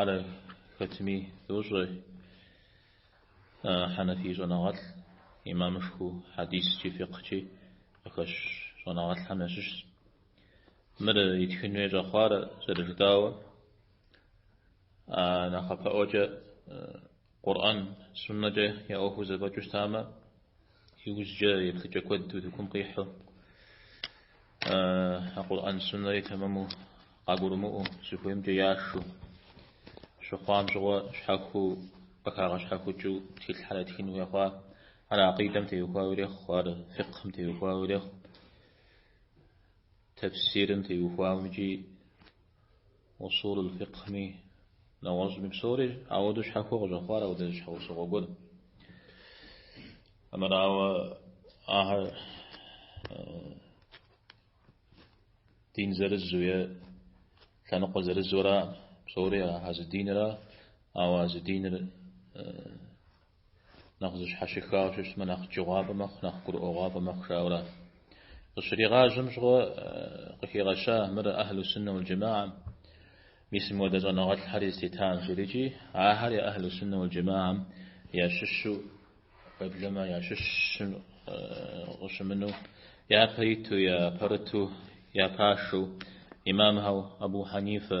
Ар хэтми дощӏэ хьэнэфий щӏэныгъэлӏ, имамышхыу хьэдискӏи фикъхькӏи къыхэщ щӏэныгъэлӏхэм ящыщщ. Мыр итхыну щӏэхъуар зэрыжытӏауэ, а нэхъапэӏуэкӏэ Къурӏэн, Суннэкӏэ я ӏуэхур зэфӏэкӏыу щытамэ, иужькӏэ еплъыкӏэ куэд утыкум къихьу, а Къурӏэн, Суннэри тэмэму къагурымыӏуэу, зыхуеймкӏэ яшу, щыхъуам щыгъуэ щхьэхуэу, къыхагъэщхьэхукӏыу тхылъхьэр ятхын хуей хъуа, ар акъидэм теухуауэ ирехъу, ар фикъхьым теухуауэ ирехъу, тэфсирым теухуауэ икӏи Усулул фикъхьми, нэгъуэщӏми псори ауэдэу щхьэхуэу къыщӏэхъуар ауэдэ щхьэусыгъуэ гуэр. Амырауэ ахэр дин зэрызу е лъэныкъуэ зэрызуэра псори а зы динра, ауэ а зы диныр Нэхъ зэщхьэщыхауэ щыщмэ, нэхъ джыгъуафӏэ мэхъу, нэхъ гурыӏуэгъуафӏэ мэхъу, жаӏэурэ. Къыщригъажьэм щыгъуэ къыхигъэща мыр Ахьлу Суннэ уал Джэмагъэм. Мис мыуэдэ щӏэныгъэлӏхэр зытетам жери икӏи, ахэр я Ахьлу Суннэ уал Джэмагъэм ящыщу, уеблэмэ ящыщым къыщымыну, япэ иту, япэрыту, япашэу, имамхэу Абу Хьэнифэ,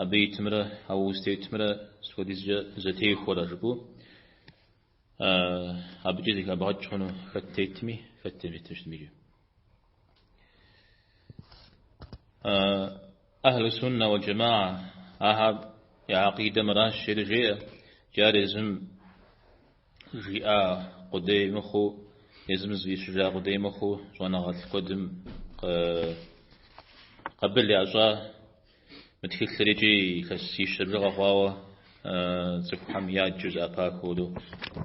Абы итымрэ а узытетымрэ сыт хуэдизкӏэ зэтехуэрэ жыпӏэу, абыкӏэ зэхэбгъэкӏ хъуну хэт тетми, хэт темытыжми икӏи. Ахьлу суннэ уэл джэмаӏэ, ахэр я акъидэ мыращ, жери жеӏэ, икӏи ар езым жиӏа къудей мыхъуу, езым зыщыжа къудей мыхъуу, щӏэныгъэлӏ куэдым къабыл ящӏа, Мы тхылъыр икӏи илъэсищэ бжыгъэ хъуауэ цӏыхухэм яджэу зэӏэпахыурэ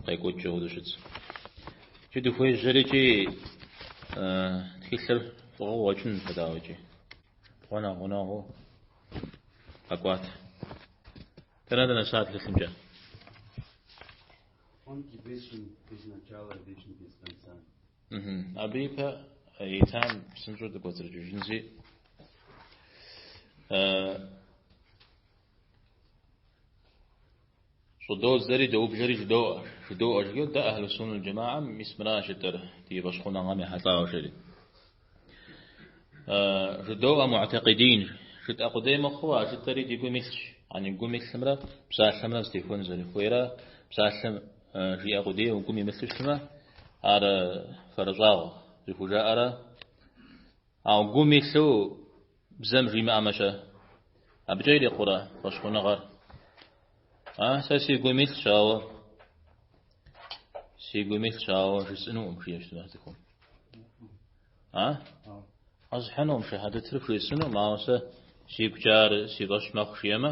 къекӏуэкӏкӏэ хуэдэу щытщ. Икӏи дыхуежьэри икӏи тхылъыр фӏыгъэу къуэкӏынут хэтауэ икӏи. Гъуэ нэхъ гъунэгъуу къэкӏуат. Дэнэ дынэса тхылъымкӏэ? Он предвечен без начала, вечен без конца. Абы ипэ итам псынщӏэу дыкӏуэцӏрыкӏыжынщи, щӏыдодзэри доублэри жыдоӏэ. Жыдоӏэ жиӏэу дэ Ахьлы Суннэ джэмаӏэм мис мыращ жытӏэр ди фӏэщхъуныгъэм ехьэлӏауэ жери. Жыдоӏэ муӏтакъидин жытӏэ къудей мыхъуу а жытӏэри ди гум илъщ. Яни гум илъымрэ псалъэмрэ зэтехуэну зэрыхуейрэ псалъэм Жиӏэ къудейуэ гум имылъу щытмэ, ар фэрыщӏагъ зыхужаӏэра. Ауэ гум илъу бзэм жимыӏэмэ-щэ, абыкӏэ ирикъурэ фӏэщхъуныгъэр? А, сэ си гум илъщ, ауэ си гум илъщ, ауэ жысӏэнукъым, жиӏэ щытмэ цӏыхум. А? Къэсхьынукъым, шэхьэдэтыр жысӏэнукъым, ауэ сэ сигукӏэ ар си фӏэщ мэхъу, жиӏэмэ.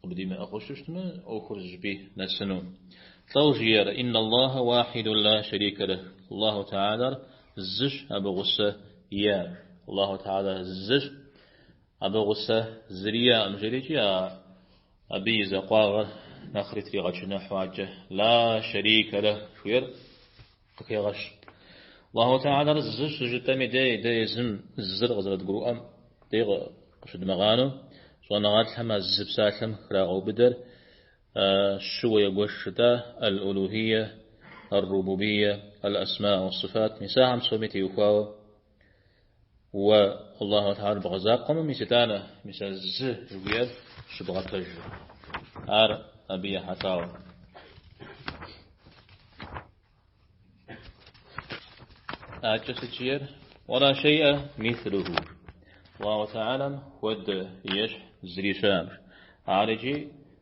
Къыбдимыӏыгъыу щыщтмэ, ӏуэхур зыщӏыпӏи нэсыну. Лӏэу жиӏэр, Инна Аллахэ уахьидун ла шэрикэ лэхь, Аллаху Теалэр зыщ, абы гъусэ иӏэкъым. Аллаху Теалэр зыщ, абы гъусэ зыри иӏэкъым, жерикӏи а Абы и закъуагъыр нэхъри тригъэчыныхьу, адэкӏэ ла шэрикэ лэхь жиӏэр. Къыхегъэщ. Аллаху Теалэр зы щыжытӏэми дей, дэ езым зыр къызэрыдгурыӏуэм дей къыщыдмыгъанэу, щӏэныгъэлӏхэм а зы псалъэм храгъэубыдэр щыуэ егуэш жытӏа Аль-Улухие, Ар-Рубубие, Аль-Асма уас-Сыфат, мис ахэм псоми теухуауэ, Уэ, Аллаху Теалэр бгъэзакъуэмэ мис итӏанэ, мис а зы жыхуиӏэр щыбгъэпэжыр. Ар абы ехьэлӏауэ. Адэкӏэ сыт жиӏэр, уэ ла шейӏэ мислуху. Аллаху Теалэм хуэдэ ещхь зыри щыӏэкъым. Ар иджи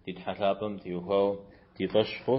ди Тхьэ лъапӏэм теухуауэ ди фӏэщ хъу.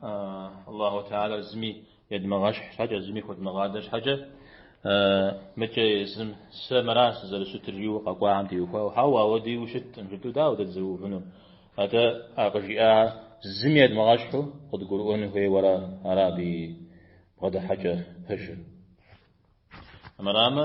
Аллаху Теалэр зыми едмыгъэщхь щхьэкӏэ, зыми хуэдмыгъадэ щхьэкӏэ, мыдэкӏэ езым сэ мыра сызэрыщытыр жиӏэу къэкӏуахэм теухуауэ, хьэуэ, апхуэдэу ущыткъым жытӏэу дауэ дэ дызэрыувыну? Атӏэ а къыжиӏа зыми едмыгъэщхьу къыдгурыӏуэн хуейуэ ара ар абы и бгъэдыхьэкӏэ пэжыр? Мырамэ,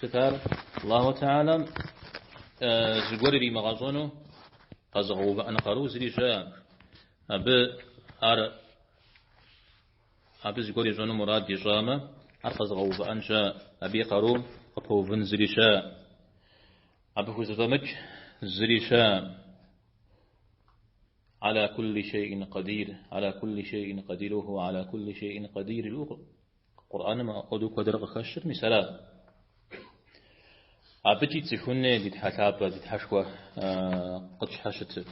Сыт ар? Аллаху Теалэм зыгуэр иримыгъэщӏэну къэзыгъэувыӏэну къару зыри щыӏэкъым. Абы ар абы зыгуэр ищӏэну мурад ищӏамэ, ар къэзыгъэувыӏэн щыӏэкъым. Абы и къарум къыпэувын зыри щыӏэкъым. Абы хузэфӏэмыкӏ зыри щыӏэкъым. Аля кулли шейин къадир, аля кулли шейин къадир, уэ хууэ, аля кулли шейин къадир. Къурӏэным апхуэдэу куэдрэ къыхэщыр мис аращ. Абыкӏи цӏыхуни ди Тхьэ лъапӏэ, ди Тхьэшхуэ къытщхьэщытыр.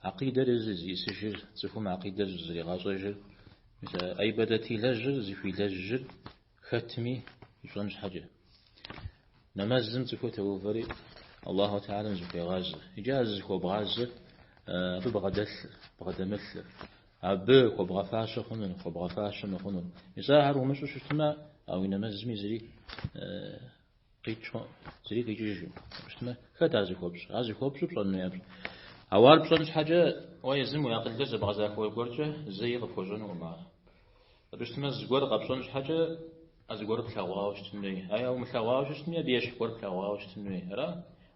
Акъидэр зисыжыр, цӏыхум акъидэр зригъащӏэжыр, мис а ӏибадэт илэжьыр, зыхуилэжьыр Хэтми ищӏэн щхьэкӏэ. Нэмэзым цӏыхур теувэри Аллаху Теалэм зыхуегъазэ. Иджы а зыхуэбгъазэр абы бгъэдэлъыр, бгъэдэмылъыр. Абы хуэбгъэфащэ хъунур, хуэбгъэфащэ мыхъунур. Мис ахэр умыщӏу щытмэ, а уи нэмэзми зыри къикӏ, зыри къикӏыжу щыткъым. Хэт ар зыхуэпщӏ? Ар зыхуэпщӏу пщӏэн хуей япщӏ. Ауэ ар пщӏэн щхьэкӏэ, уэ езым уи акъылкӏэ зэбгъэзахуэ гуэркӏэ зэи къыпхуэщӏэнукъым ар. Абы щытмэ, зыгуэр къэпщӏэн щхьэкӏэ а зыгуэрыр плъэгъуауэ щытын хуей. Е ар умылъэгъуауэ щыщытми, абы ещхь гуэр плъэгъуауэ щытын хуей. Ара?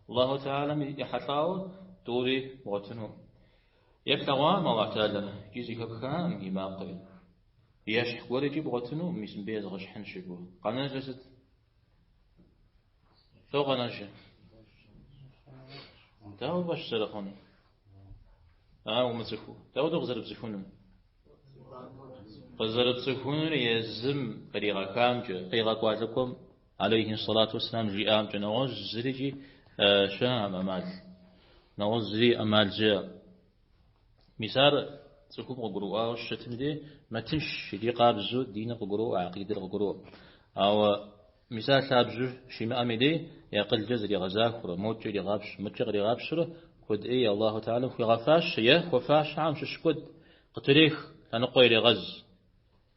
Аллаху Теалэм ехьэлӏауэ тӏури бгъуэтыну. Е плъэгъуакъым Аллаху Теалэ икӏи зэхэпхакъым и макъыр. Ещхь гуэр икӏи бгъуэтыну, мис мыбы езгъэщхьынщ жыпӏэу. Къэнэжыр сыт? Фо къэнэжыр. Дауэ фӏэщ зэрыхъуну? Ар умыцӏыхуу. Дауэду къызэрыпцӏыхунум? Къызэрыпцӏыхунур езым къригъэхамкӏэ, къигъэкӏуа лӏыкӏуэм алейхи салату вассалам жиӏамкӏэ нэгъуэщӏ зырикӏи щыӏэм ӏэмал. Нэгъуэщӏ зыри ӏэмал щыӏэ. Мис ар цӏыхум къыгурыӏуауэ щытыми дей, мэтынш, иджы къабзэу диныр къыгуроӏуэ, акъидэр къыгуроӏуэ. Ауэ мис ар лъабжьу щимыӏэми дей, и акъылкӏэ зригъэзахуэурэ, модкӏэ иригъапщ, мыдкӏэ къригъапщэурэ куэд ӏей Аллаху Теалэм хуигъэфащэ е хуэфащэхэм щыщ куэд къытрех, лъэныкъуэ ирегъэз.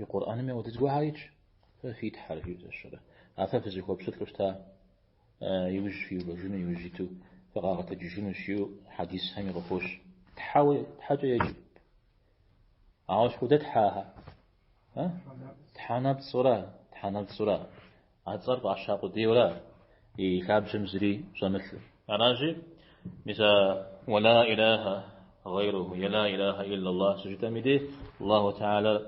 И Къурӏэным ауэдэ зыгуэрхэр итщ, фэ фи Тхьэр фи зэщэрэ. А фэ фызыхуэпщылӏу щыта, иужь фиувэжыну, иужь иту фыкъагъэтэджыжынущ, жиӏэу хьэдисхэми къыхощ. Тхьэуэ, Тхьэкӏэ еджэ. Ауэ сыт хуэдэ Тхьэхэ? Тхьэнэпцӏура, Тхьэнэпцӏура. А цӏэр фӏаща къудейуэра и лъабжьэм зыри щӏэмылъу. Аращи, мис а уэ ла илахэ гъейруху е ла илахэ илла Аллах щыжытӏэми де, Аллаху Теалэр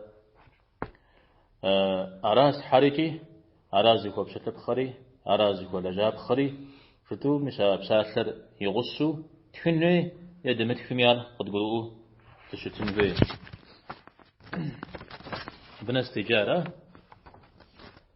ара Тхьэр икӏи, ара зыхуэпщылӏыпхъэри, ара зыхуэлэжьапхъэри хэту мис а псалъэр и гъусэу тхын хуей е дымытхми ар къыдгурыӏуэу дыщытын хуей. Абы нэс деджа, ара?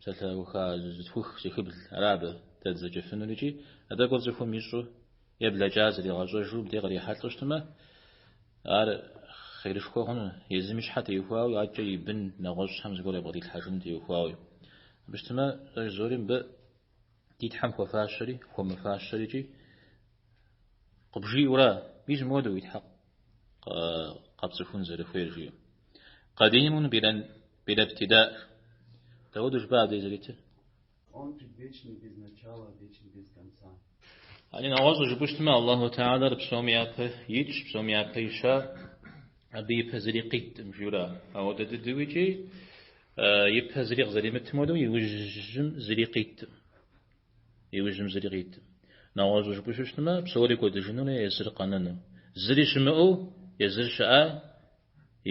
Псалъэуха зытхух зыхыбл ара абы дэ дызэджэфынур икӏи а тӏэкӏур цӏыхум ищӏу е блэкӏар зэригъэщӏэжу мыбдеж кърихьэлӏэу щытмэ, ар хъерышхуэ хъуну, езым и щхьэ теухуауи адэкӏэ и бын нэгъуэщӏхэм зыгуэр ябгъэдилъхьэжыным теухуауи. Абы щытмэ, щӏэж псори мыбы ди Тхьэм хуэфащэри, хуэмыфащэри икӏи къыбжиӏэура, мис мыуэду уи Тхьэ къэпцӏыхун зэрыхуейр жиӏэу. Къэдимун къирэн. Била бтида. Дауэ дужба абдей зэритыр? Он же вечный без начала, вечный без конца. Яни нэгъуэщӏ жыпӏущтмэ, Аллаху Теалэр псом япэ итщ, псом япэ ища, абы ипэ зыри къиттым жиӏэра. Ауэдэ дыдэу икӏи ипэ зыри къызэримытым хуэдэу иужьым зыри къиттым. Иужьым зыри къиттым. Нэгъуэщӏ жыпӏущтмэ, псори кӏуэдыжынурэ езыр къэнэну. Зыри щымыӏэу, езыр щыӏа,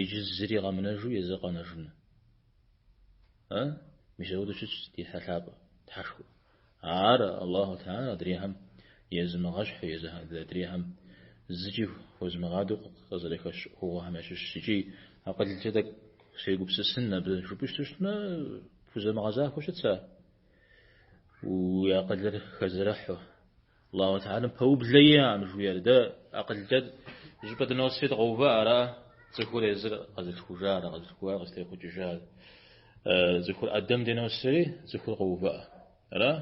Иджы зыри къэмынэжу езыр къэнэжыну. Э? Мис ауэдэу щытщ ди Тхьэ лъапӏэ, Тхьэшхуэ. Ар, Аллаху Теалэ, адрейхэм езымыгъэщхьу, езыр адрейхэм зыкӏи хуэзмыгъадэу къызэрыхэщ ӏуэхугъуэхэм ящыщщ икӏи акъылкӏэ тӏэкӏу сегупсысын абы жыпӏэу щыту щытмэ, пхузэмыгъэзахуэу щытщ а, уи акъылыр хэзэрыхьу, Аллаху Теалэм пэублэ иӏэӏым жиӏэр, дэ акъылкӏэ щӏыпӏэ дыносри къэувыӏэ ара? Цӏыхур езыр къэзылъхужар, къэзылъхуар къызтехъукӏыжар. Цӏыхур Ӏэдэм дыносри, цӏыхур къэувыӏэ ара?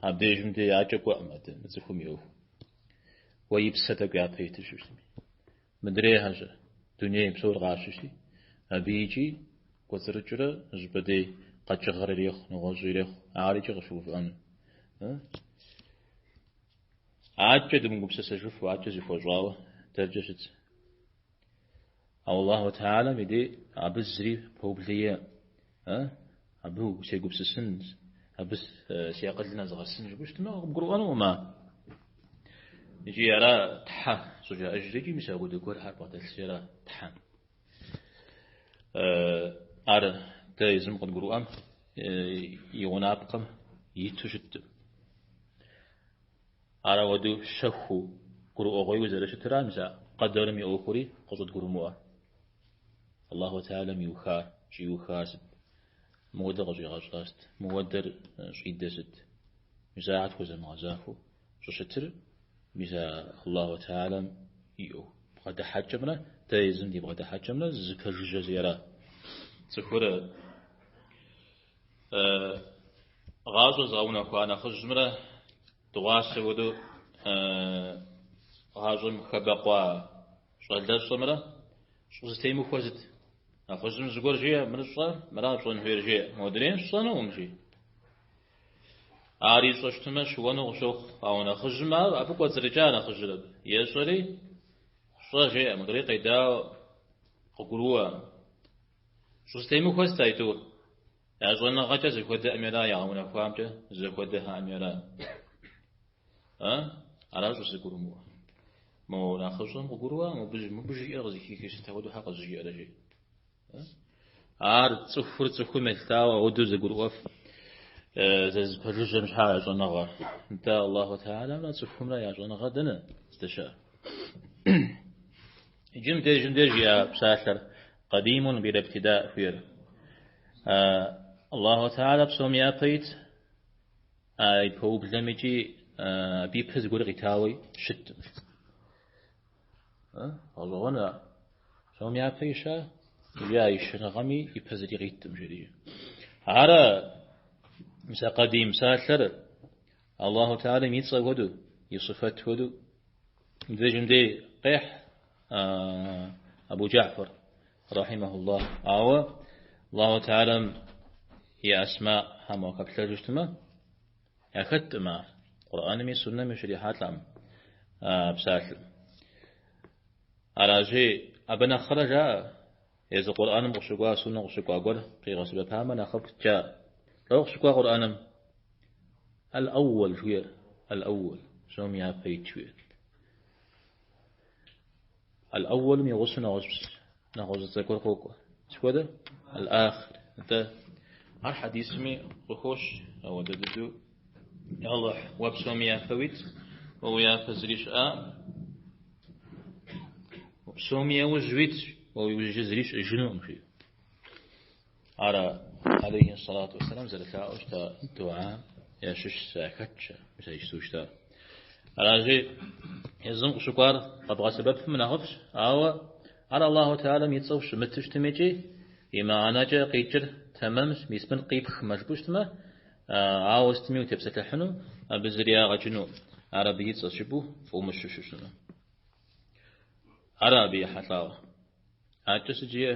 Абдежым дей адэкӏэ кӏуэӏым адэ, цӏыхум и ӏуэху. Уэ и псэ тӏэкӏу япэ итыжырщ. Мыдрейхэ-щэ, дунейпсор къащыщти, абы икӏи кӏуэцӏрыкӏрэ щӏыпӏэ дей къэкӏыгъэр ирехъу, нэгъуэщӏ ирехъу, ар икӏи къыщыувыӏэну. Адэкӏэ дымыгупсысыжыфу, адэкӏэ зыхуэщӏауэ дэркӏэ щыт. Ауэ Аллаху Теалэм и дей абы зыри пэублэ иӏэ. Э, абы сегупсысын, абы си акъылым нэзгъэсын жыпӏэу щытмэ, къыбгурыӏуэнукъым а. Икӏи ара Тхьэ щӏыжаӏэжри икӏи мис апхуэдэ гуэрхэр бгъэдэлъри ара Тхьэ. Ар дэ езым къыдгурыӏуэм и гъунапкъэм иту щыттым. Ар ауэдэу щэхуу, гурыӏуэгъуейуэ зэрыщытра мис а къэдэрым и ӏуэхури къыщӏыдгурымыӏуэ. Аллаху Теалэм иухар, щӏиухар сыт? Мыуэдэр къыщӏигъэщӏа сыт? Мыуэдэр щӏидэ сыт? Мис ахэр тхузэмыгъэзахуэу щӏыщытыр мис а Аллаху Теалэм и бгъэдыхьэкӏэмрэ дэ езым ди бгъэдыхьэкӏэмрэ зэпэжыжьэщи ара. Цӏыхур гъащӏэ зыгъэунэхуа нэхъыжьымрэ дыгъуасэ хуэдэу гъащӏэм хэбэкъуа Щӏалэщӏэмрэ щӏызэтемыхуэр сыт? Нэхъыжьым зыгуэр жеӏэ, мыр щӏэ, мыра пщӏэн хуейр жеӏэ. Модрейм сщӏэнукъым, жи. Ар ищӏэ щытымэ, щыуэну къыщохъу, ауэ нэхъыжьым ар абы кӏуэцӏрыкӏа нэхъыжьыр абы. Ещӏэри, щӏэ жеӏэ, модрей къедауэ къыгурыӏуэ. Щӏызэтемыхуэ сыт аитӏур? Я щӏэныгъэкӏэ зэхуэдэӏыми ара, ягъэунэхуамкӏэ зэхуэдэхэӏыми ара. А? Аращ узыгурымыӏуэр. Мо нэхъыщӏэм къыгурыӏуа? Мыбы, мыбы жиӏэр къызыхихри сыт апхуэдэу хьэ къызжиӏэрэ жи? Ар цӏыхур цӏыхум елъытауэ ауэдэу зэгурыӏуэф зэзыпэжыжьэм щхьа я щӏэныгъэ? Нтӏэ Аллаху Теалэмрэ цӏыхумрэ я щӏэныгъэ дэнэ здэщыӏэр? Иджы мыбдеж мыбдеж я псалъэр къадимун била ибтида жыхуиӏэр. Аллаху Теалэ псом япэ ит А и пэублэм икӏи абы и пэ зыгуэр къитауэ щытым. Гъэщӏэгъуэну ар. Псом япэ щыӏа, икӏи а и щыӏэныгъэми и пэ зыри къиттым, жери. Ара мис а къадим псалъэр Аллаху Теалэм и цӏэ хуэдэу, и сыфэт хуэдэу. Иджы мыдей къехь Абу Джафар. Рахьимэхуллах. Ауэ Аллаху Теалэм и Асмаӏхэм уахэплъэжыщтмэ, яхэткъым ар Къурӏэнми Суннэми ущрихьэлӏэм а псалъэм. Аращи, абы нэхърэ жаӏэ, езы Къурӏэным къыщыкӏуа, Суннэм къыщыкӏуа гуэр къигъэсэбэпамэ нэхъыфӏт жаӏэ. Дауэ къыщыкӏуа Къурӏэным? Эл-Эуэл жыхуиӏэр, Эл-Эуэл, псом япэ ит жыхуиӏэр. Аль-Ауэлым и гъусэу нэгъуэщӏ, нэгъуэщӏ зы цӏэ гуэр къокӏуэ. Сыхуэдэ? Аль-Ахыр. Атӏэ, ар хьэдисми къыхощ ауэдэ дыдэу. Я Алыхь, уэ псоми япэ уит, уэ уи япэ зыри щыӏэкъым. Псоми яужь уит, уэ уи ужь зыри щыӏэжынукъым, жиӏэу. Ара алейхи салату вассалам зэрылъаӏэу щыта дуа ящыщ зы хэтщ мис ишту щыта. Аращи езым къыщыкӏуар къэбгъэсэбэпым нэхъыфӏщ, ауэ ар Аллаху Теалэм и цӏэу щымыту щытми икӏи и мыхьэнэкӏэ къикӏыр тэмэмщ, мис мыр къипхмэ жыпӏу щытмэ, ауэ сытми утепсэлъыхьыну, абы зыри ягъэкӏыну, ар абы и цӏэщ жыпӏэу фӏумыщу щыщыну. Ара абы и хьэлъагъ? Акӏэ сыт жиӏэ.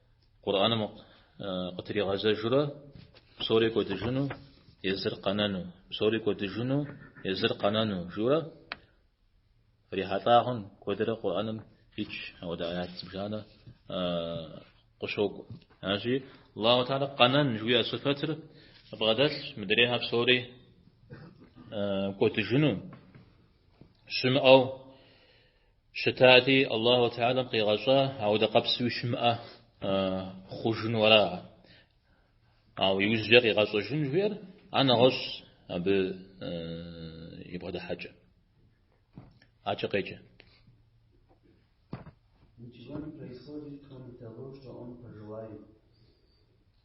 Къурӏэным къытригъэзэжурэ псори кӏуэдыжыну, езыр къэнэну, псори кӏуэдыжыну, езыр къэнэну жиӏэурэ фрихьэлӏагъэнщ куэдрэ Къурӏэным хэтщ ауэдэ аят зыбжанэ къыщокӏу. Аращи, Аллаху Теалэ къэнэн жыхуиӏэ сыфэтыр бгъэдэлъщ мыдрейхэр псори кӏуэдыжыну, щымыӏэу Щытати, Аллаху Теалэм къигъэщӏа ауэдэ къэпсуи щымыӏэ хъужыну ара. Ауэ иужькӏэ къигъэщӏэжын жыхуиӏэр а нэгъуэщӏщ абы и бгъэдыхьэкӏэ. Акӏэ къеджэ.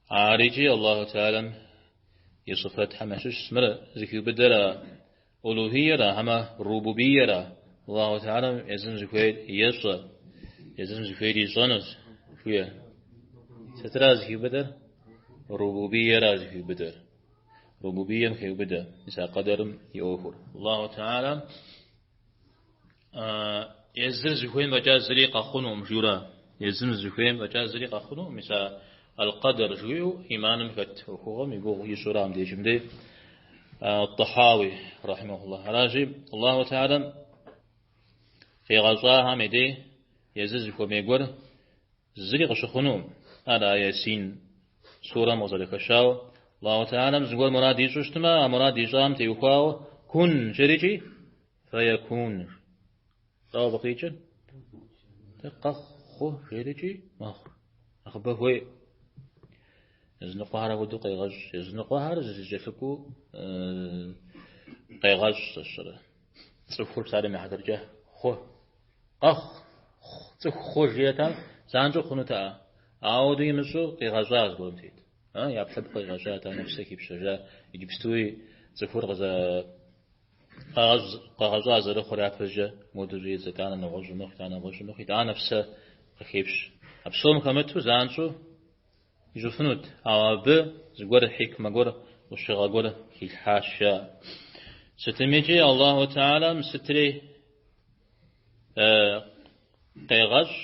Ар икӏи Аллаху Теалэм и сыфэтхэм ящыщ мис мыр зыхиубыдэр Улухийера хьэмэ Рубубийера, Аллаху Теалэм езым зыхуейр ещӏэ, езым зыхуейр ищӏэнущ, жуӏэ. Сытра зыхиубыдэр? Рубубийера зыхиубыдэр. Рубубием хеубыдэ мис а къэдэрым и ӏуэхур. Аллаху Теалэм А, езыр зыхуейм фӏэкӏа зыри къэхъунукъым, жура. Езым зыхуейм фӏэкӏа зыри къэхъунукъым, мис а аль-къэдэр жиӏэу иманым хэт ӏуэхугъуэм и гугъу ищӏура мыдежым дей Ат-Тахьауи, рахьимэхуллахь. Аращи, Аллаху Теалэм къигъэщӏахэм и дей езыр зыхуэмей гуэр зыри къыщыхъунукъым. Ар а Ясин сурэм къызэрыхэщауэ, Аллаху Теалэм зыгуэр мурад ищӏу щытмэ, а мурад ищӏам теухуауэ кун жерикӏи, Фэякуныр. Тӏэу абы къикӏыр? Къэхъу жерикӏи мэхъу. Нэхъыбэ хуей. Языныкъуэхэр апхуэдэу къегъэщӏ. Языныкъуэхэр зэзэкӏэлъыкӏуу къегъэщӏ сщӏэрэ. Цӏыхур псалъэм и хьэтыркӏэ хъу. Къэхъу. Цӏыху хъу жиӏэта, занщӏэу хъунутэӏэ. Ауэду имыщӏу къигъэщӏа зыгуэрым тет. ӏэпкълъэпкъ къигъэщӏа, итӏанэ псэ хипщэжа, иджыпстуи цӏыхур къызэ Къэгъэщӏ къэгъэщӏа зэрыхъур япэщӏыкӏэ моду жи зэ, итӏанэ нэгъуэщӏу мэхъу, итӏанэ нэгъуэщӏу мэхъу, итӏанэ псэ къыхепщэ. А псом хэмыту занщӏэу ищӏыфынут, ауэ абы зыгуэр хьикмэ гуэр, ӏущыгъэ гуэр хилъхьащ. Сытымикӏи Аллаху Теалэм сытри къегъэщӏ.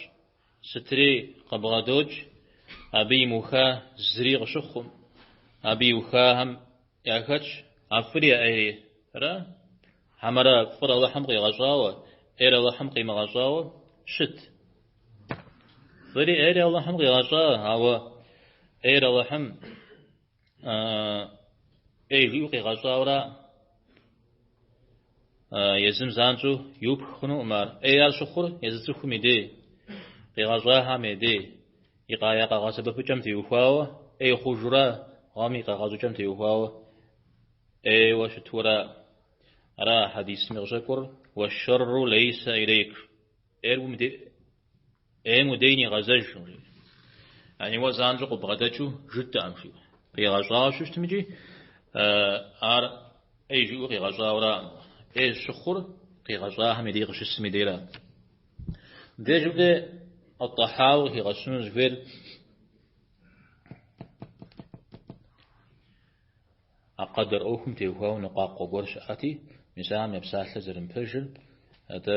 Сытри къыбгъэдокӏ, абы имыуха зыри къыщыхъуӏым, абы иухахэм яхэтщ а фӏыри а ӏейри, ара, хьэмэрэ фӏыр Алыхьым къигъэщӏауэ, ӏейр Алыхьым къимыгъэщӏауэ щыт? Фӏыри ӏейри Алыхьым къигъэщӏа, ауэ ӏейр Алыхьым ӏей жиӏэу къигъэщӏауэра? Езым занщӏэу иупх хъунукъым ар. ӏей ар щыхъур езы цӏыхум и дей, къигъэщӏахэм я дей, и къая къэгъэсэбэпыкӏэм теухуауэ, ӏей хъужура гъэм и къэгъэщӏыкӏэм теухуауэ ӏейуэ щытура. Ара хьэдисми къыщӏэкӏур, уэшэрру лейсэ илейк. ӏейр уэ уи дей ӏейм уи дей нигъэзэж, яни уэ занщӏэу къыбгъэдэкӏыу жытӏэӏым, жи. Къигъэщӏауэ щытмикӏи, ар ӏей жиӏэу къигъэщӏауэраӏым. ӏей щыхъур къигъэщӏахэм и дей къыщысым и дейра. Дежым дей Ат-Тахьауи къыхигъэщыну зыхуейр а къэдэр ӏуэхум теухуауэ ныкъуакъуэ гуэр щыӏэти, мис ахэм я псалъэр зэрымыпэжыр, атӏэ,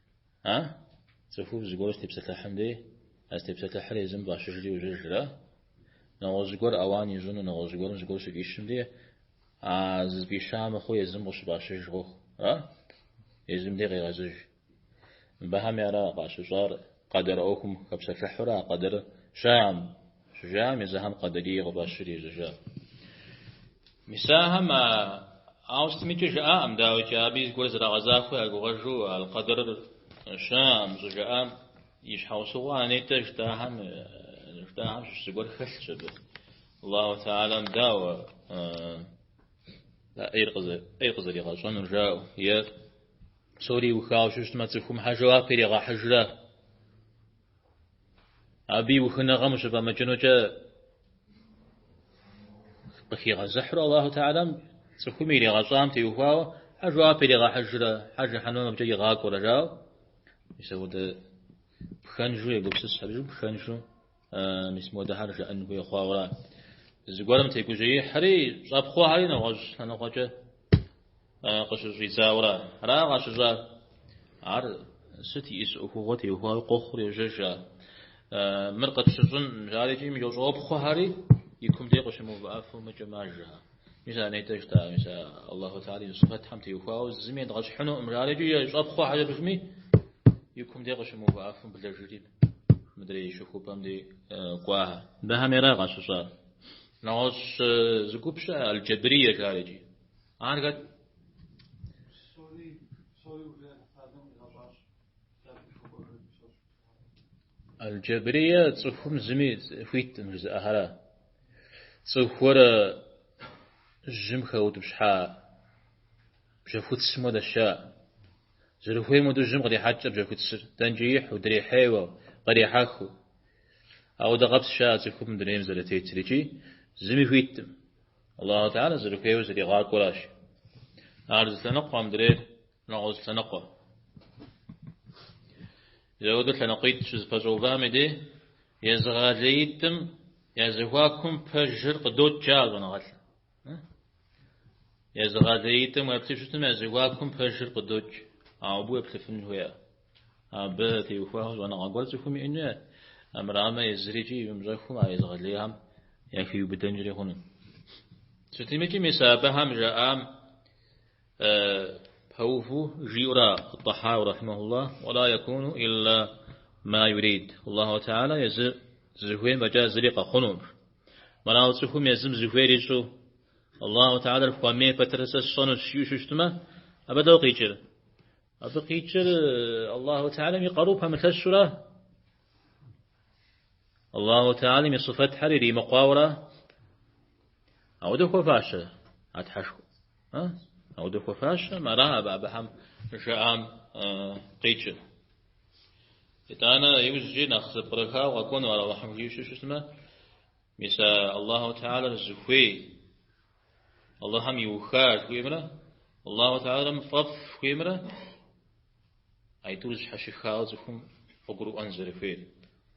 А? Цӏыху зыгуэр щытепсэлъыхьым дей, а зытепсэлъыхьыр езым фӏащыжри ужьыжрэ? Нэгъуэщӏ зыгуэр ауан ищӏыну, нэгъуэщӏ зыгуэрым зыгуэр щыфӏищым дей, а зыфӏища мыхъуу езым къыщыфӏащыж къохъур, а? Езым дей къегъэзыж. Мыбыхьэми ара къащыщӏар, къэдэр ӏуэхум хэпсэлъыхьурэ а къэдэрыр щыӏэкъым, Щыжаӏэм езыхэм Къэдэрие къыфӏащри ежьэжащ. Мис ахэм ауэ сытмикӏэ жаӏакъым, дауикӏи, абы и зыгуэр зэрагъэзахуэ ягугъэжу аль-къэдэр щыӏэкъым щӏыжаӏам и щхьэусыгъуэ а нетӏэ жытӏахэм щыщ зыгуэр хэлъщ абы. Аллаху Теалам дауэ а ӏейр къызэригъэщӏэнур жаӏэу, е псори иухауэ щыщтмэ, цӏыхум хьэ жэуап иригъэхьыжрэ? Абы и ухыныгъэм ущыфӏэмыкӏынукӏэ къыхигъэзыхьурэ Аллаху Теалэм цӏыхуми иригъэщӏам теухуауэ хьэ жэуап иригъэхьыжрэ, хьэ жыхьэнмэ абыкӏэ игъакӏуэрэ жаӏэу, мис ауэдэ пхэнжу егупсыс, абыжу пхэнжу мис модэхьэр жыӏэн хуей хъуауэ ара. Зыгуэрым тегужьеихьри щӏэпхъуэхэри нэгъуэщӏ лъэныкъуэкӏэ къыщыщӏидзауэра ара къащыщӏар? Ар сыт иӏис ӏуэхугъуэ теухуауэ къохъур йожьэж ар. Мыр къытщыщӏын жаӏэри икӏи мис щӏопхъуэхэри и кум дей къыщымыувыӏэфу мыкӏэ мажэхэ. Мис ар нетӏэ жытӏар, мис ар Аллаху Теала и сыфэтхэм теухуауэ зыми едгъэщхьынуӏым жаӏэри икӏи ещӏэпхъуэхьэ жыпӏэми и кум дей къыщымыувыӏэфу блэжри мыдрей щыхупӏэм дей кӏуахьэ. Абыхьэми ара къащыщӏар? Нэгъуэщӏ зы гуп щыӏэ, аль-Джабрие жаӏэр иджы. Ар хэт? Аль-Джабрие цӏыхум зыми хуиткъым жызыӏэхэра. Цӏыхур жьым хэутӏыпщхьа бжьэхуцым уэдэщ жаӏэ. Зэрыхуейм уэду жьым кърехьэкӏ бжьэхуцыр, дэнкӏи ихьу, дрихьейуэ, кърихьэхыу. Ауэдэ къабзэщ жаӏэ цӏыхум дунейм зэрытетыр икӏи зыми хуиткъым. Аллаху Теала зэрыхуейуэ зэригъакӏуэращ. Ар зы лъэныкъу а мыдрейр нэгъуэщӏ лъэныкъуэ. Зэуэдэу лъэныкъуитӏ щызэпэщӏэувам и дей езыгъэлеитӏым я зэхуакум пэжыр къыдокӏ, жаӏэ щӏэныгъэлӏым. Езыгъэлеитӏым уеплъу щытым я зэхуакум пэжыр къыдокӏ, ауэ абы уеплъыфын хуея? Абы теухуа щӏэныгъэ гуэр цӏыхум иӏэн хуейт, армырамэ езыри икӏи имыщӏэххэу а езыгъэлеихэм яхиубыдэнкӏри хъуну. Сытмикӏи мис абыхэм жаӏам, Пэуву жиӏэурэ ат-Тӏэхьауи, рахьимэхуллах, уэла якуну илла ма юрид. Аллаху Теала езыр зыхуейм фӏэкӏа зыри къэхъунукъым. Мэрауэ цӏыхум езым зыхуейр ищӏу, Аллаху Теалэр хуэмей пэтыр сэ сщӏэнущ жиӏэу щыщтмэ, абы дауэ къикӏыр? Абы къикӏыр Аллаху Теалэм и къару пэмылъэщу ара, Аллаху Теалэм и сыфэтхэр иримыкъуауэ ара, ауэдэ хуэфащэ а Тхьэшхуэр. Ауэдэ хуэфащэм ара абы абыхэм жаӏам къикӏыр. Итӏанэ иужькӏи нэхъ зэпкърыхауэ къэкӏуэну ар Аллахьым жиӏэу щытмэ, мис а Аллаху Теалэр зыхуей, Аллахьым иуха жыхуиӏэмрэ, Аллаху Теалэм фӏэфӏ жыхуиӏэмрэ, а итӏур зэщхьэщыхауэ цӏыхум къыгурыӏуэн зэрыхуейр.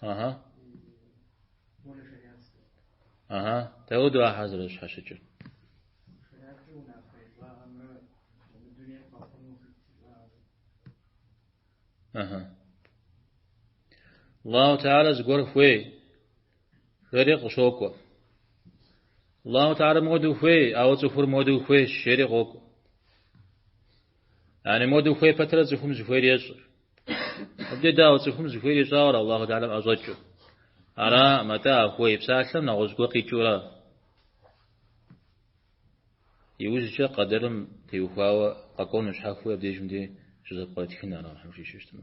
Ага. Ага, дауэдэу ахьэр зэрэщхьэщыкӏыр. Ага. Аллаху Теала зыгуэр хуей, жери къыщокӏуэ. Аллаху Теала моуэдэу хуей, ауэ цӏыхур моуэдэу хуейщ, жери къокӏуэ. Яни моду хуей пэтрэ цӏыхум зыхуейр ещӏыр. Абдей дауэ цӏыхум зыхуейр ищӏауэр Аллаху Теалэм ӏэщӏэкӏыу. Ара, мэтӏэ а хуей псалъэм нэгъуэщӏ гуэ къикӏыурэ иужькӏэ къэдэрым теухуауэ къэкӏуэну щхьэхуэу абдеж мыбдей щызэпкърытхын, ара, Тхьэм жиӏэу щыщтмэ.